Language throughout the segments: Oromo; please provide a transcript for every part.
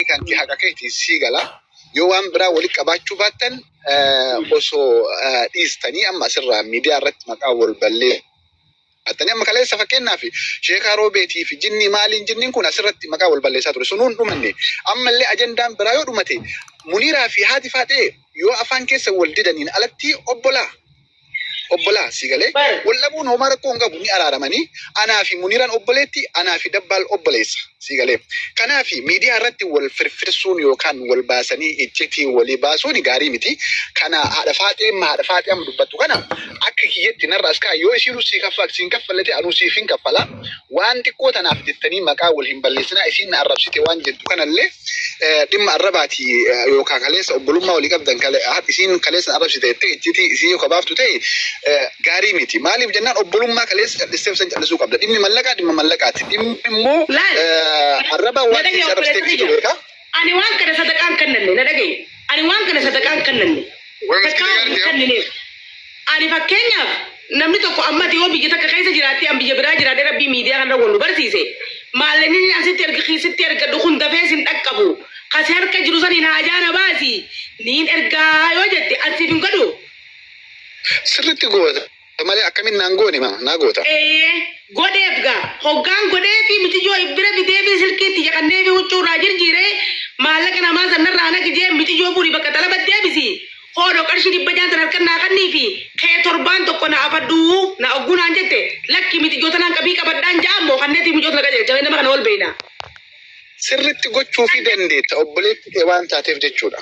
kanti haqa keeti sii gala yoo waan biraa walitti qabaachuu baattan eh, osoo eh, dhiistanii amma asirraa miidiyaa irratti maqaa wal ballee Attanii amma kaleessa fakkeenyaaf sheekaa roobeetii fi jinnii maaliin jinniin kun asirratti maqaa wal balleessaa ture sunuun dhumanne ammallee ajandaan biraa yoo dhumate muniiraa fi haati faaxee yoo afaan keessa wal didaniin alatti obbolaa obbolaa sii galee wal dhabuun homaa rakkoo hin qabu ni araaramanii anaa fi muniiraan obboleetti anaa fi dabbaal obboleessa sii galee kanaa fi miidiyaa irratti wal firfirsuun yookaan wal baasanii iccitii walii baasuun gaarii miti kana haadha faaxee amma haadha faaxee amma dubbattu kana akka kiyyatti narra as kaa yoo isiinuu sii kaffaa siin kaffallatee anuu siif hin kaffalaa Waan xiqqoo tanaaf jettanii maqaa wal hin balleessinaa isiin na arrabsite waan jettu kanallee dhimma arrabaati yookaan kaleessa obbolummaa walii qabdan isiin kaleessa na arrabsite jettee iccitii isii yoo kabaaftu ta'e gaarii miti. Maaliif jennaan obbolummaa kaleessa callisteef san callisuu qabda. Dhimmi mallaqaa dhimma mallaqaati. Dhimmi immoo arraba waan keessa arrabsite ibsitu beekaa. Ani waan kana sadaqaa hin kennanne, na dhaga'i. Ani waan kana sadaqaa hin kennanne, Way miskiina takkaa hin gaarti, kennineef. Ani fakkeenyaaf namni tokko amma ati yoo biyya takka keessa jiraattee an biyya biraa jiraadhee rabbii miidiyaa kanarra wal nu barsiise maallaqni inni asitti erga keessatti ergadhu kun dafee sin dhaqqabu kasi harka jiru saniin haajaa na baasi niin ergaa yoo jette an siif hin godhu sirriitti goota. malee akkamin naan goone ma naa goota. Eeyyee godheef gaa hoggaan godheefi miciyyoo if bira fideefi silkii itti caqanneefi huccuu irraa jirjiiree maallaqa namaa san narraa naqi jeen miciyyoo fuudhi bakka xalabat deebisi hoodho qarshii dhibba jaan san harkan naa kanniifi ka'ee torbaan tokko na afadhu na ogguu naan jette lakki miciyyoo tanaan qabii qabadhaan ja'an moo kanneetii mucoot na qajeelcha mee nama kana wal beeyna. Sirritti gochuufi dandeetta obboleetti kee waan taateef jechuudha.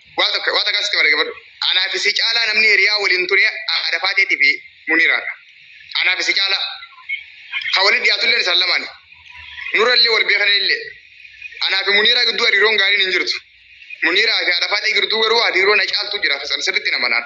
Waa tokko waa takka sitti malee gabbadhu. Anaa fi si caalaa namni hiriyaa waliin ture haadha faateetii fi muniiraadha. Anaa fi si caalaa. Kan waliin dhiyaatullee isaan lamaani. Nurallee wal beekan illee. Anaa fi muniiraa gidduu hariiroon gaariin hin jirtu. Muniiraa fi haadha faatee gidduu garuu hariiroon na caaltu jira. Sirriitti nama naan.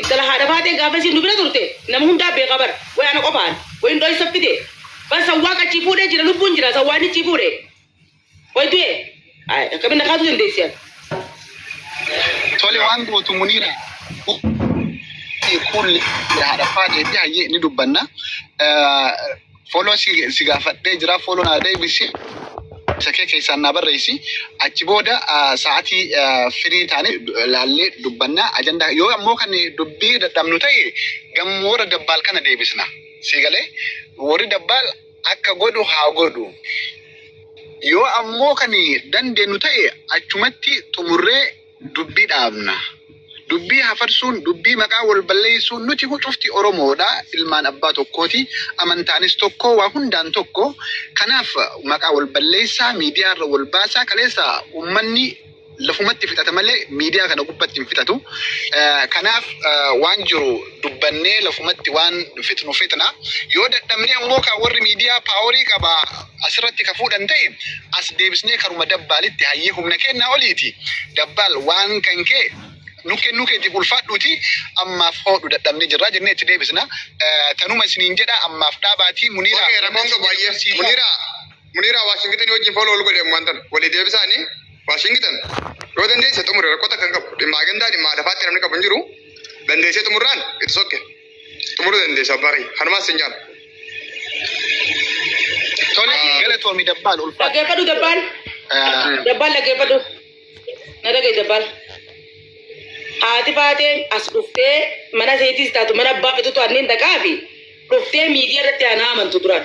Ittala haadha baatee gaafa isiin nu bira turte nama hundaa beekaa bar way ana qofaan wayin dhoysa fide bar sawwaaq achii fuudhee jira lubbuun jira sawwaanni achii fuudhe way du'e Ay, akkamin na kaasuu dandeessi ati Tole waan gootu muniira. Kuulli haadha faadhee fi hayyee ni dubbanna. Eh, Follow si, si gaafadhee jira. Follow naa deebisi. Isa kee keessaan naa barreessi. Achi booda ah, sa'aatii ah, firii taane eh, laallee dubbanna. Ajandaa yoo ammoo kan dubbii dadhabnu ta'e gamoo warra dabbaal kana deebisna. Si galee warri dabbaal akka godhu haa godhu. Yoo ammoo kan dandeenyu ta'e achumatti xumurree dubbii dhaabna. Dubbii hafarsuun, dubbii maqaa wal balleessuun nuti cufti Oromoodha, ilmaan abbaa tokkooti, amantaanis tokko, waa hundaan tokko. Kanaaf maqaa wal balleessaa, miidiyaa irra wal baasaa, kaleessa ummanni lafumatti fixata malee miidiyaa kana gubbatti hin fixatu. Eh, Kanaaf eh, waan jiru dubbannee lafumatti waan fixnu fixna. Yoo dadhabnee ammoo kan warri miidiyaa paaworii qaba asirratti ka fuudhan ta'e as deebisnee karuma dabbaalitti hayyee humna kennaa oliiti dabbaal waan kan kee nu kennuu keetiif ulfaadhuuti ammaaf hoodhu dadhabne jirraa jennee itti deebisna Eh, tanuma isiniin jedha ammaaf dhaabaatii muniira Okay, rakkoon qabu baay'ee. Muniira Muniira Waashingitan wajjin fooloo ol godhe waan ta'an walii deebisaanii Waashingitan yoo dandeesse xumure rakkoo takka hin qabu. Dhimma agendaa dhimma lafaatti namni qabu hin jiru. Dandeessee xumurraan itti sokke. xumuruu dandeessa abbaa kiyya kanumaan sin jaala tole galatoomi dabbaan ulfaa Dhaggeeffadhu dabbaan. Dabbaan dhaggeeffadhu. Na dhagahi dabbaan. Haati baatee as dhuftee mana seetis taatu mana abbaa fitutu anniin dhaqaa fi dhuftee miidiyaa irratti anaa amantu duraan.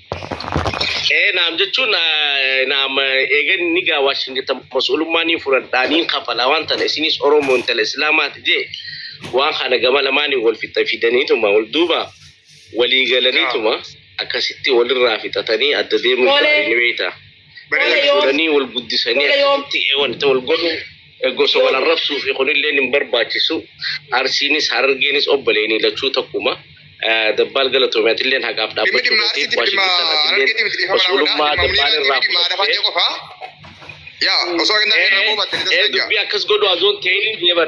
Ee naam jechuun eh, naam eh, eegan ni gaa Waashingitan mas'uulummaa ni fudhadhaa niin kafala waan tana isinis Oromoo intala Islaamaati jee waan kana gama lamaaniin wal fixa fidaniituma wal duuba walii galaniituma akkasitti walirraa fixatanii adda deemuu Tole. isaanii ni beekta. Tole yoom? Fuudhanii wal guddisanii Tole yoom? akkasitti eewan itti wal godhu Gosa wal arrabsuufi kunilleen hin barbaachisu. Arsiinis Harargeenis obboleeni lachuu tokkuma. Dabbaal galatoomi atilleen haqaaf dhaabbachuu keetiif Waashingittan atilleen mas'uulummaa Dabbaal irraa fudhattee ee dubbii akkas godhu azoon ta'in never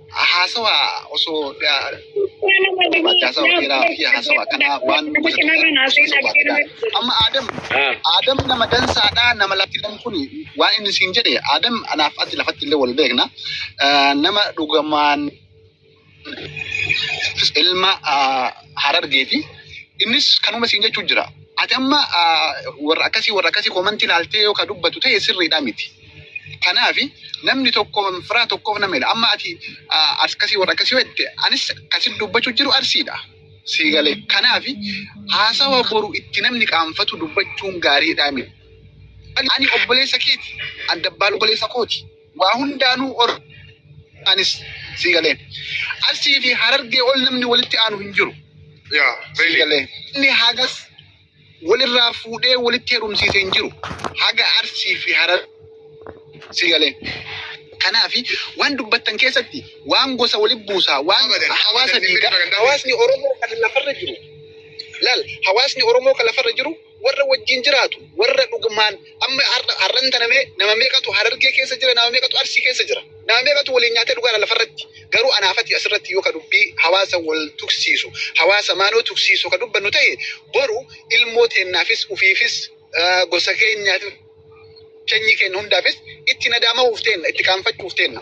haasawa osoo haasawa dheeraa fi haasawa kanaa waan amma Adam Adam nama dansaadha nama lafti jedhan kun waan inni siin jedhe Adam anaaf ati lafatti illee wal beekna nama dhugamaan ilma harargee fi innis kanuma siin jechuu jira. Ati amma warra akkasii warra akkasii koomantii ilaaltee yoo ka dubbatu ta'e sirriidhaa miti. Kanaafi namni tokko firaa tokkoof nama hila. Amma ati akkasii warra akkasii yoo jette anis kasin dubbachuu jiru arsiidha. Sii galee. Kanaafi haasawa boru itti namni qaanfatu dubbachuun gaariidha miti. Ani obboleessa keeti. Ani dabbaan obboleessa kooti. Waa hundaanuu or anis sii galee. Arsii fi harargee ol namni walitti aanu hin jiru. Yeah, Sii really. galee. Inni hagas wal irraa fuudhee walitti heerumsiise hin jiru. Haga Arsii fi Harar si galee. Kanaaf waan dubbattan keessatti waan gosa walitti buusaa, waan Abadan, hawaasa abadan, diigaa, dhimmi kana hawaasni Oromoo kan lafarra jiru, laal, hawaasni Oromoo kan lafarra jiru warra wajjin jiraatu, warra dhugumaan Amma har'a har'an tana mee nama meeqatu harargee keessa jira nama meeqatu arsii keessa jira nama meeqatu waliin nyaatee dhugaadha lafarratti garuu anaafati asirratti yoo ka dubbii hawaasa wal tuksiisu hawaasa maanoo tuksiisu ka dubbannu ta'e boru ilmoo teennaafis ufiifis ah, gosa keenyaaf sanyii keenya hundaafis itti nadaamahuuf teenna itti qaanfachuuf teenna.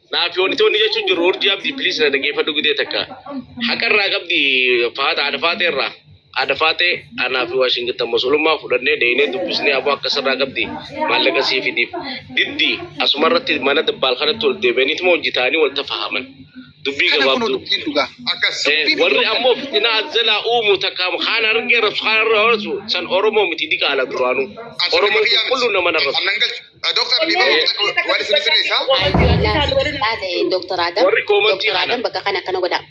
Naaf yoonitoonni jechuun jiru urjii abdii piliis na dhageeffadhu gidee takka. Haqarraa qabdi faata haadha faatee irraa. Haadha faatee anaa fi Waashingtan musulummaa fudhannee dheeynee dubbisnee aboo akkasirraa qabdi maallaqa sii fidiif. Diddi asuma irratti mana dabbaal kanatti ol deebi'aniituma hojii ta'anii wal tafahaman. Dubbii Kana kunoo gabaabduu. dubbiin dhugaa. Akkas. Eh, Dubbiin warri dhugaa. ammoo fitinaa azzalaa uumu takka kaan argee rabsu kaan irra horasu san oromoo miti diqaala duraanuu Asirra oromoo kiyyaa miti. qulqulluun nama narrasu Annan galchu. Doktar Dhiibaa Murtee waan isin sirreessaa? Doktar Adam. Warri koomantii Doktar Adam bakka kana akkana godhaa.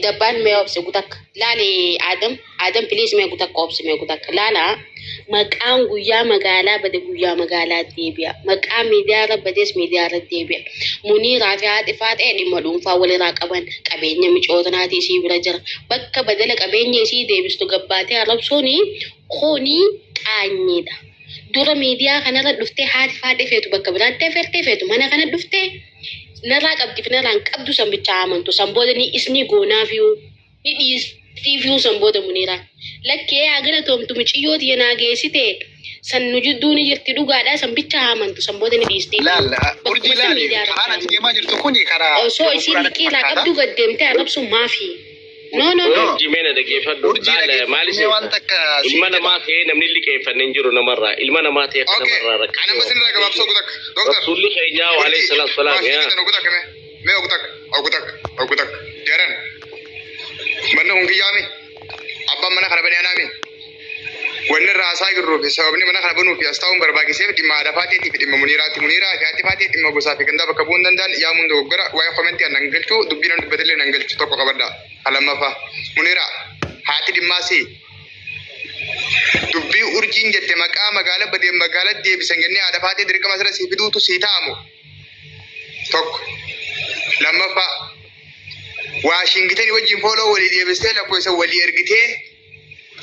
Dabbaan mee obse gutakka. Laali Adam. Adam piliis mee gutakka obse mee gutakka. Laala maqaan guyyaa magaalaa bade guyyaa magaalaa deebi'a. Maqaa miidiyaarra bades miidiyaarra deebi'a. Muniiraa fi haadhi faaxee dhimma dhuunfaa walirraa qaban qabeenya micootnaatii isii bira jira. Bakka badala qabeenya isii deebistu gabbaatee arrabsuuni kuni qaanyiidha. Dura miidiyaa kanarra dhuftee haati faadhee feetu bakka biraatti afertee feetu mana kana dhuftee narraa qabdi fi narraa hin qabdu san bichaa amantu san booda ni isni goonaafiyuu ni dhiistiifiyuu san booda muniiraa lakkee haa galatoomtu miciyyoo tiyya naa geessitee san nu jidduu ni jirti dhugaadhaa san bichaa amantu san booda ni dhiistiif Laal, bakkuma urjii san laali. miidiyaa irratti Haala ati amantu. deemaa jirtu kun karaa osoo isiin liqii irraa qabdu gad deemtee arrabsuun maafii. No, no, no. Jimee na dhaggeeffadhu. Urjii Laala, dhaggeeffadhu. maali Mee waan seeta? takka siin Ilma jedha. namaa kee namni liqeeffanne hin jiru namarraa. Ilma namaa ta'e kan Okay. namarraa rakkate. Ana masin irraa gabaabsoo gutak. Doktar. Rasuulli keenyaa wa alayhi salaatu salaam Maasii yaa. bitan ogutak me. Me ogutak. Ogutak. Ogutak. Jaran. Manni kun kiyyaami. Abbaan mana kana bani anaami. Wanni irraa haasaa jirruu fi sababni mana kana banuu fi as taa'uun barbaachiseef dhimma haadha faateetii fi dhimma muniiraati. Muniiraa fi haati faatee dhimma gosaa fi gandaa bakka bu'uu hin danda'an yaamuun dogoggora waa'ee komentii an nan galchu dubbii nan dubbatellee nan galchu tokko qabadha. Ka lammaffaa muniiraa haati dhimmaa si dubbii urjiin jette maqaa magaala badee magaala deebisan jennee haadha faatee dirqama asirra si fiduutu si ta'amu tokko lammaffaa waashingitanii wajjin fooloo walii deebistee lakkoofsa walii ergitee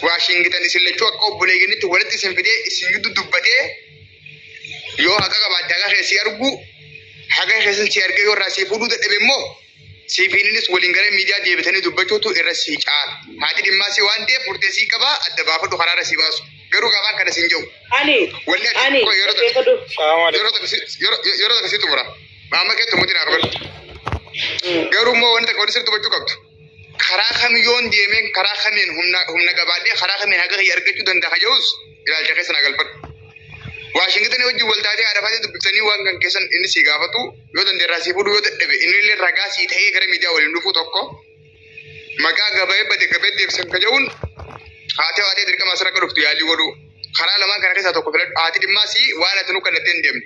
Waashingitan isin lachuu akka obboleeyyanitti walitti isin fidee isin gidduu dubbatee yoo haqa qabaatte haqa kee si argu haqa keessan si argee yoo irraa si fuudhuu dadhabe immoo siifiininis waliin gara miidiyaa deebitanii dubbachuutu irra si caala. Haati dhimmaa si waan ta'eef murtee si qabaa adda baafadhu karaa irra si baasu. Garuu gaafaan kana siin jedhu. Ani. Walli ati Ani. koo yeroo tokko Eegadhu. yeroo tokko si- yeroo- yeroo tokko si xumura. Maamma kee tumuuti naa kabalu. Garuu immoo wanti takka wanti sirri dubbachuu qabdu. karaa kam yoon deemeen karaa kamiin humna humna qabaadhee karaa kamiin haqa kiyya argachuu danda'a jedhus ilaalcha keessa na galfadhu. Waashingitanii wajjin wal taatee arafatee dubbiftanii waan kan keessan inni sii gaafatu yoo dandeerraa sii fuudhu yoo dadhabe inni illee ragaa sii ta'ee gara miidiyaa waliin dhufuu tokko maqaa gabayee bade gabayee deebisan ka jedhuun haatee waatee dirqama asirra akka dhuftu yaalii godhuu karaa lamaan kana keessaa tokko filadhu haati dhimmaa sii waan ati nu kallatteen deemne.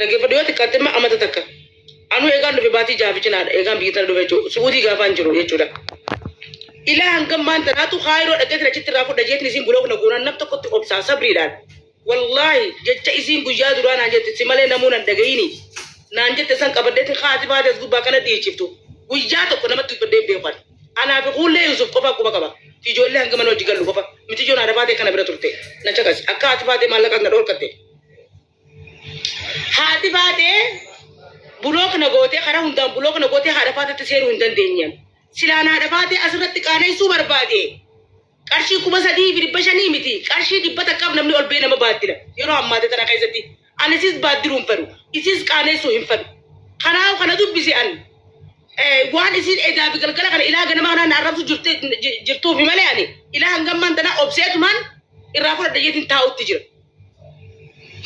Dhaggeeffadhu yoo xiqqaatte immoo amata takka. Anuu eegaan dhufe baatii jaha fi cinaadha eegaan biyya tana dhufe jechuudha. Su'uudii gaafaan jiru jechuudha. Ilaa hangam maan tanaatu kaayiroo dhaqeetiin achitti irraa fudha jeetiin isiin buloog na goonaan nam tokkotti obsaa sabriidhaan. Wallaahi jecha isiin guyyaa duraa naan jette si malee namuu nan dhagayini naan jette san qabaddeetiin kaati baatee as gubbaa kana dhiichiftu. Guyyaa tokko namatti dubbadhee hin beeku ani. Anaa fi kuullee Yuusuf qofaa quba qaba. Fi ijoollee hanga mana hojii gallu qofa. Miti ijoon haadha baatee kana bira turte. Na caqasi. Akka haati baatee maallaqaas na dhoorkatte. Haati baatee bulook na gootee karaa hundaan bulook na gootee haadha faatatti seenuu hin dandeenyem. Silaan haadha faatee asirratti qaaneessuu barbaade. Qarshii kuma sadii fi dhibba shanii miti. Qarshii dhibba takkaaf namni ol ba'ee nama baaddila. Yeroo ammaate tana keessatti ani isis baaddiluu hin fedhu. Isis qaaneessuu hin fedhu. Kanaaf kana dubbise an waan isin edaa fi galgala kana ilaa ganama kanaan na arrabsu jirtuufi malee ani ilaa hangammaan tana obseetumaan irraa fudhadha jeetiin taa'utti jira.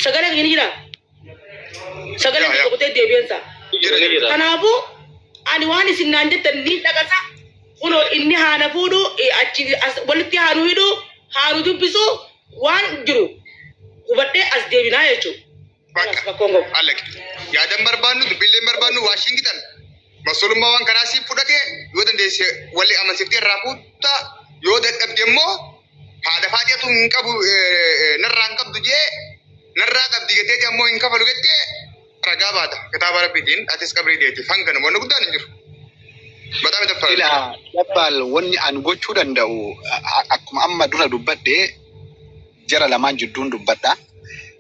Sagalee kiyya ni jira. Sagalee kiyya kutee deebi'eensa. Jira jira. Kanaafuu ani waan isin naan jettan ni dhagasa. Kunoo inni haana fuudhu eh, achi as- walitti haanu hidhu haanu dubbisu waan jiru hubadhee as deebinaa jechuudha. Bakka. Rakkoon qabu. Allaq. Yaadan barbaannu, dubbiilleen barbaannu, Waashingitan. Masolummaa waan kanaa siif fudhatee yoo dandeesse walii amansiftee irraa kuuttaa yoo dadhabde immoo Haadha faajatu hin qabu narraa hin qabdu jee narraa qabdi jettee ammoo hin kafalu jettee ragaa baata kitaaba rabbiitiin atis qabrii deetti hanga nama wanni guddaan hin jiru. Bataa mita fayyadu. Ila dabbaal wanni an gochuu danda'u akkuma amma dura dubbadhe jara lamaan jidduun dubbadha.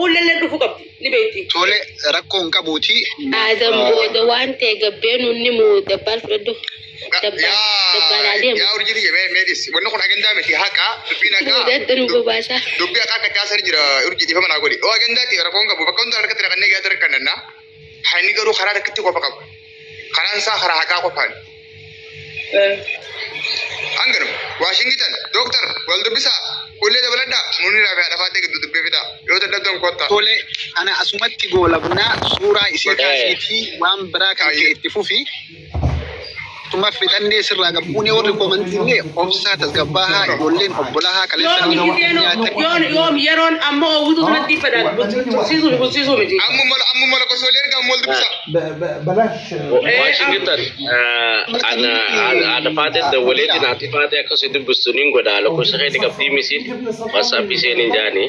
Uullallee dhufu qabdi ni beekti. Tole rakkoo hin qabuuti. Aadam booda waan ta'e gabbeen inni moo dabbaan fudhadhu. Dabbaan dabbaan adeemu. Yaa urjii tiyya mee mee dhisi. Wanni kun agandaa miti haqa dubbiin haqa. Boodatti nu bobaasaa. Dubbii haqa akka caasaa jira urjii dhiifama naa godhi. Yoo agandaa ta'e rakkoo hin qabu bakka hundaa harkatti raqannee gahaa dargannaa. Kan inni garuu karaa takkitti qofa qaba. Karaan isaa karaa haqaa qofaan. Hanganu Waashingitan dooktar wal dubbisaa kullee dabaladhaa muuniraa fi haadhafaatee gidduu dubbee fidaa yoo dadhabdan kottaa. Tole ana asumatti goolabnaa suuraa isii kaasiitii waan biraa kan kee itti fufi. Tumaaf fixannee sirraa gabbuunee warri komantiillee obsaa tasgabbaahaa ijoolleen obbolahaa kaleessa Yoom nama itti nyaatan. deenu yoom yoom yeroon amma oowwituu sanatti fedhan tursiisuu fi tursiisuu miti. Ammuma ammuma lakkoofsoolee erga ammoo dubbisa. Washington ana ana faateen dawwaleetiin haati faatee akkasii dubbistu niin godha lakkoofsa keenya qabdii misiin wasaapii seenin jaanii.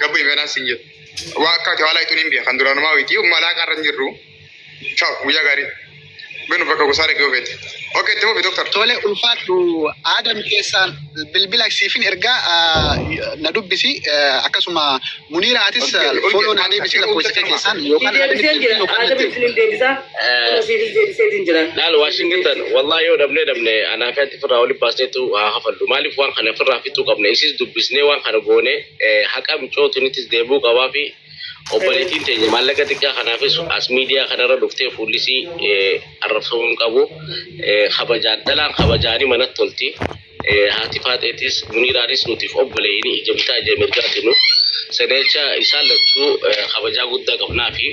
Gabbu imanaan sin jedhu. Waa akka ati haalaa ituun hin biya kan duraanumaa wayiti umma laaqaa irra hin jirru. Ciao guyyaa gaarii. Binu bakka gosaa dhaqee ofeete. Okay itti fufi doktar. Tole ulfaadhu aadam keessaan bilbila siifin ergaa ah, na dubbisi eh, akkasuma muniira atis Okay, okay. follow na deebisi Akka lakkoofsa kee ulfaadhu keessaan yookaan Deebiseen jira. yookaan Aadam natti- isin deebisaa. Laal Waashingtan wallaahi yoo dhabnee dhabne anaa fi ati firraa waliin baasneetu haa hafallu. Maaliif waan kana firraa fixuu qabna? Isis dubbisnee waan kana goone haqa micootunitis deebuu qabaa fi obboleettiin teenya maallaqa xiqqaa kanaafis as miidiyaa kanarra dhuftee fuullisii arrabsamuu hin qabu. Kabajaan dhalaan kabajaanii manatti tolti. Haati Faaxeetis Muniiraanis nutiif obboleeyni ija bitaa ija mirgaati nuuf. Seneecha isaan lachuu kabajaa guddaa qabnaafi.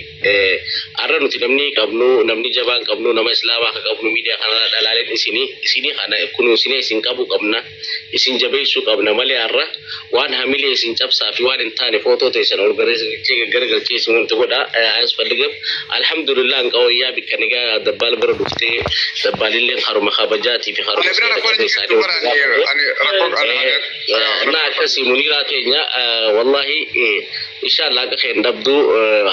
Arra nuti namni qabnu, namni jabaan qabnu, nama Islaamaa ka qabnu miidiyaa kanarraa dhalaaleen isini. Isini kana kunuunsinee isin qabuu qabna. Isin jabeeysuu qabna malee arra. Waan hamilee isin cabsaa fi waan hin taane footoo teessan ol garasichee gaggaragalchee isin wanta godha ayasfalligam. Alhamdulillah anqa wayyaa bikka nagaa dabbaal bira dhuftee dabbaalilleen haruma kabajaatii fi haruma seera qabe isaanii wanta gaafatan. Naa akkasii muniiraa keenya wallahi inshallah akka keen dhabdu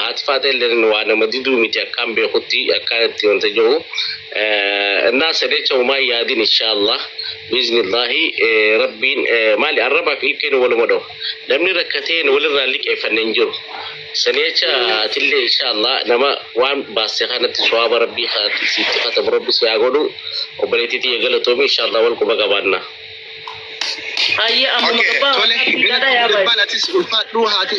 haati faateelleen waa nama diduu miti akkaan beekutti akkaan itti wanta jiru. Naa sadeecha umaa yaadin inshallah. Biiznillaahi rabbiin maali arrabaaf ilkeen waluma dhahu namni rakkatee walirraa liqeeffanne hin jiru sanii acha atillee inshaallah nama waan baaste kanatti sawaaba rabbii kaatti siitti katamu rabbi si haa godhu obboleettii tiyya galatoomi inshaallah wal quba qabaanna. Ayyee ammuma Okay, gabbaa tole, waqaatti gadaa yaa baay'ee. Ulfaan atis ulfaadhuu haati.